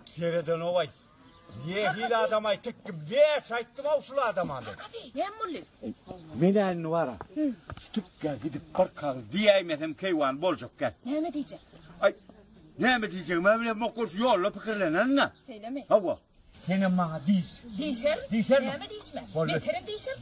Seredenowaý. Nähili adam aýtdyk kim? Näçe aýtdym-ow şul adama men. Näme boldy? Menä indi bara. Şu tükgä gidip bir kagyz diýäýmesem keýwany boljak gel. Näme diýjek? Aý, näme diýjegim-ä bilemok ol şu ýolda pikirlenerin-ä. Şeýlemi? Hawa. Senem maňa diýiş. Diýşerin. Diýşermiň? Näme diýişmä? Boldy. Beterem diýşerin.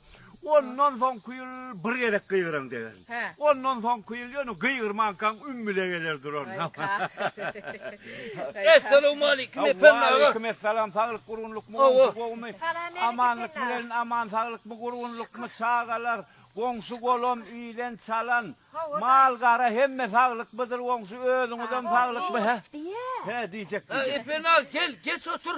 Ondan soňky ýyl bir gezek gygyran degen. Ondan soňky ýyl ýöne gygyrmankaň ümmüle geler duran. Essalowmalikim Ependi aga. Waleýkim essalam saglyk gurgunlykmy goňşy gowmy? Amanlykmy gelin aman saglykmy gurgunlykmy çagalar goňşy golam ilen çalan mal gara hemme saglyk bydyr goňşy özüňizem saglykmy he? He diýjek diýjek. Ependi aga gel geç otur.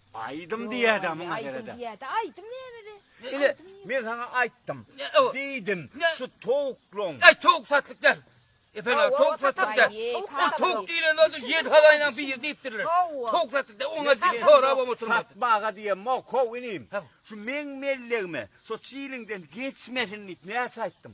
Aýdym diýýädä muňa gerede. Diýýädä aýdym näme be? Ile men saňa aýtdym. Diýdim, şu towuklaň. Aý towuk satlyk däl. Efendim towuk satlyk däl. Ol towuk diýlen bolsa ýedi hazaýynyň biri diýipdirler. Towuk satlyk däl. Oňa diýip sorap hem oturmadyk. Satmaga diýen mok how inim. Şu meň mellegime şu çiliňden geçmesin diýip näçe aýtdym.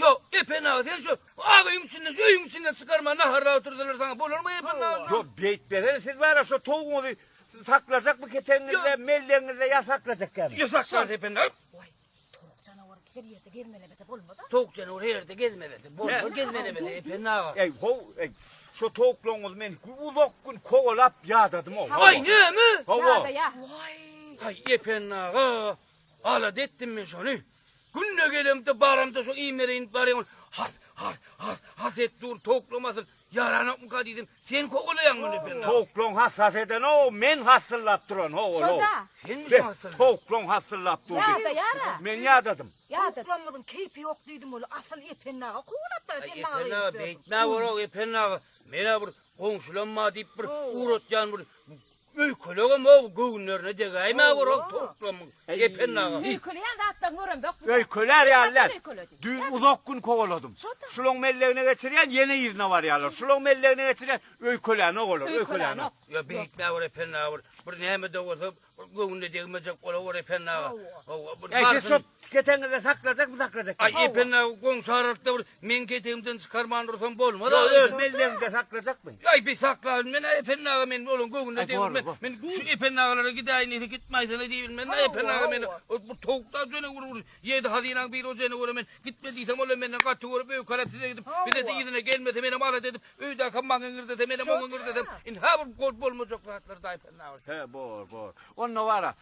Ýok, Epen aga, sen şu ak öýüň içinde, şu öýüň içinden çykarma, naharlap oturdylar saňa, bolarmy Epen aga? Ýok, beýtmesene, siz bara şu towugyňyzy saklajak bu ketegiňizde, mellegiňizde ýa saklajakkämi? Ýok, saklarys Epen aga. Waý, towuk janawary her ýerde gezmelemese bolmaz-a. Towuk janawary her ýerde gezmelese bolmaz, gezmelemese Epen aga. Eý, how, eý, şu towuklaryňyzy men uzak gün kowalap ýadadym-ow. Waý, näme? Hawa. Ýada-ýa. Waý, Haý, Epen aga, alada etdim men şony. Günde gelemde baramda şo iýmlere inip barýan has has has has et dur towuklamasyn ýaranokmyka diýdim sen kowalaýaň muny ben towuklaň has has eden o men hasyllap duran ho ol sen sen hasyl towuklaň hasyllap dur ýada ýara men ýadadym towuklamyzyň keýpi ýok diýdim ol asyl epennaga kowlap da sen maňa epennaga beýtmä gorok epennaga menä bir goňşulam bar diýip bir ugratýan bir Öýkelegem ow göwünlerine degäýmä bir ow towuklamyň Ependi aga. Öýkeleýän zatlaryňy göremzok biz. Öýkelär ýalylar. Düýn uzak gün kowaladym. Şulaň mellegine geçirýän ýene yzyna barýarlar. Şulaň mellegine geçirýän öýkelänok olar, öýkelänok. Ýa beýtmä bir Ependi aga bir. Bir näme-de bolsa göwnüne degmejek ola bir Ependi aga. Ow bir barsyn. Keteňizde saklajakmy saklajak. Aý epende goňşy aralykda bir meň ketegimden çykarman dursam bolmaz agam. Öz melleginde saklajakmy? Aý bir saklabyn men epende aga men olaň göwnüne degilmen. Men şu epende agalara gidäýin diýse gitmäýsene diýbilmen da epende aga men bu towuklar jöne bir bir ýedi hazynaň biri ojene görä men gitme diýsem olam menden gaty görüp öýkelep size gidip bize de yzyna gelmese menem alada edip öýdäki maňa girdese menem oňa girdesem indi ha bir gol bolmajak zatlar da epende aga. He bor bor. Onda wara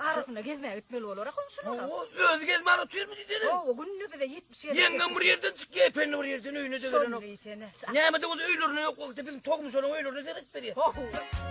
Arasyna gezmäge gitmeli bolara goňşulara. Özi gezip ara oturmy diýsene. Hawa, günde bize 70 ýer. Ýeňňem bir ýerden çykýar, ependi bir ýerden öýüne de gelenok. Şony diýsene. Nämede bolsa öýlerine ýok wagty biziň togmuşaryň öýlerine seret berýär. Hawa.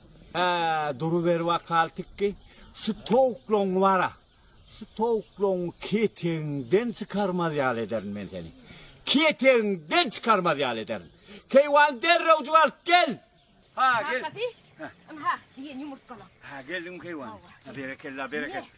Ää duruber wakal tikki şu towuklaň wara şu towuklaň ketegiňden çykarmaz ýaly ederin men seni ketegiňden çykarmaz ýaly ederin keýwan derrew juwalyp gel ha gel Kakasy, ynha, diýen ýumurtgalar. Ha geldim keýwan. Berekella berekella.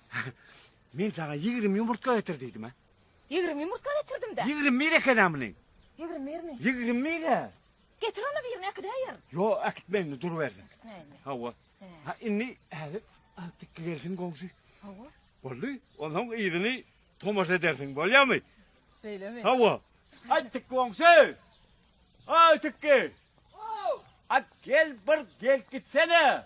Men saňa ýigrimi ýumurtga getir diýdim-ä. Ýigrimi ýumurtga getirdim-dä. Ýigrimi bir ekeni munyň. Ýigrimi birmi? Ýigrimi bir-ä. Getir onda birini äkidäýerin. Ýo, äkitme indi durubersin. Äkitmäýinmi? Hawa. Ha, indi häzir tikgi gelsin goňşy. Hawa. Boldy. Onsoň yzyny tomaşa edersiň, bolýarmy? Şeýlemi? Hawa. Aý tikgi goňşy! Aý tikgi! Ow! At gel bir gelip gitsene.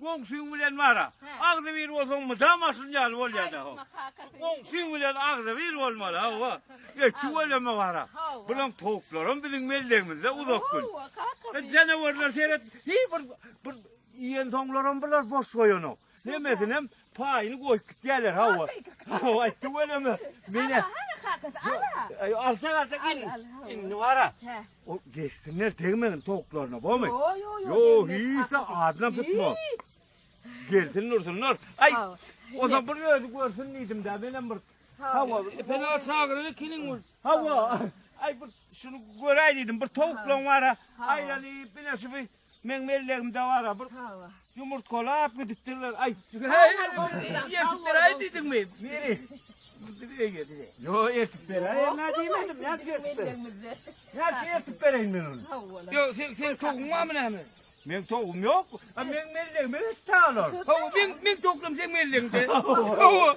Goňşyň bilen wara. Agzy bir bolsaň mydam aşyn ýaly bolýada. Goňşyň bilen agzy bir bolmaly hawa. Ýetdi weleme wara. Bulan towuklaram biziň mellegimizde uzak gün. Janawarlar seret. Hiý bir bir iýen soňlaram bular boş goýanok. Hemmesinem Paýyny goýup gitýärler hawa. Hawa aýtdy weleme. Mene. Hana kakasy ala. Aý alsa alsa gel. Indi bara. O geçsinler tegmegin toklaryna bomy? Yo yo yo. Yo hiç de adına tutma. Hiç. Gelsin dursunlar. Aý. O da bir özi görsün diýdim de men hem bir. Hawa. Fena çagyryny kiniň ol. Hawa. Aý bir şunu göräý diýdim. Bir towuklaň bara. Aýlanyp bile şu bir Meň mellegimde bara bir ýumurtgalap gidipdirler. Aý. Ýetip beräý diýdiňmi? Niri? Diňe geldi. Ýo, ýetip beräý. Näme diýmedim? Näme ýetip beräý? Näme ýetip beräý men ony? Ýo, sen sen toguň barmy näme? Men togum ýok. A meň mellegime hiç taýlar. Hawa, men men toglum sen mellegde. Hawa.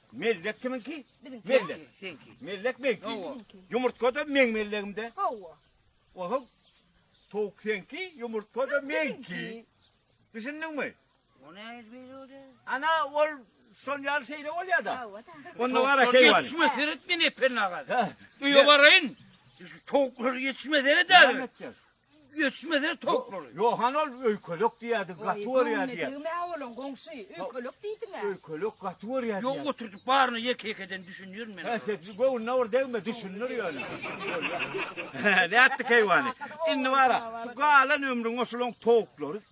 Mellek kiminki? Biziňki. Mellek. Seňki. Mellek meňki. Hawa. Ýumurtga da meň mellegimde. Hawa. Oho. Towuk seňki, ýumurtga da meňki. Düşündiňmi? O ne ezberi o da? Ana ol şol ýaly şeýle bolýar da. Hawa da. Onda bar Tavuklar ekeýwan. Yetişmez seret men epen agat. Ha. Öýe barayın. Şu tavuklar yetişmez seret Näme hadi. etjek? Göçmese towuklary. Ýok, han ol öýkelek diýýärdi, gaty görýär diýýär. Degme owalan goňşy, öýkelek diýdiň-ä. Öýkelek gaty görýär diýýär. Ýok, oturdyp baryna ýeke-ýekeden düşünýerin men. Hä, sen göwnüne bir degme, düşündir ýöne. Nätdik heýwany. Indi bar-a, şu galan ömrüňe şulaň towuklary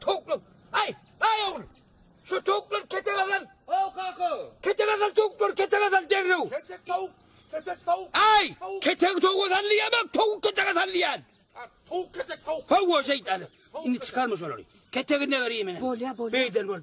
Towuklar. Aý, aý ogul. Şu towuklar kete gazal. Aw kaka. Kete gazal towuklar, kete gazal derrew. Ketek tawuk. Ketek tawuk. Aý, kete towuk gazal diýemok, towuk kete gazal diýen. Towuk ketek tawuk. Hawa şeýtany. Indi çykarma şolary. Ketegine berýin meni. Bolýa, bolýa. Beýden bol.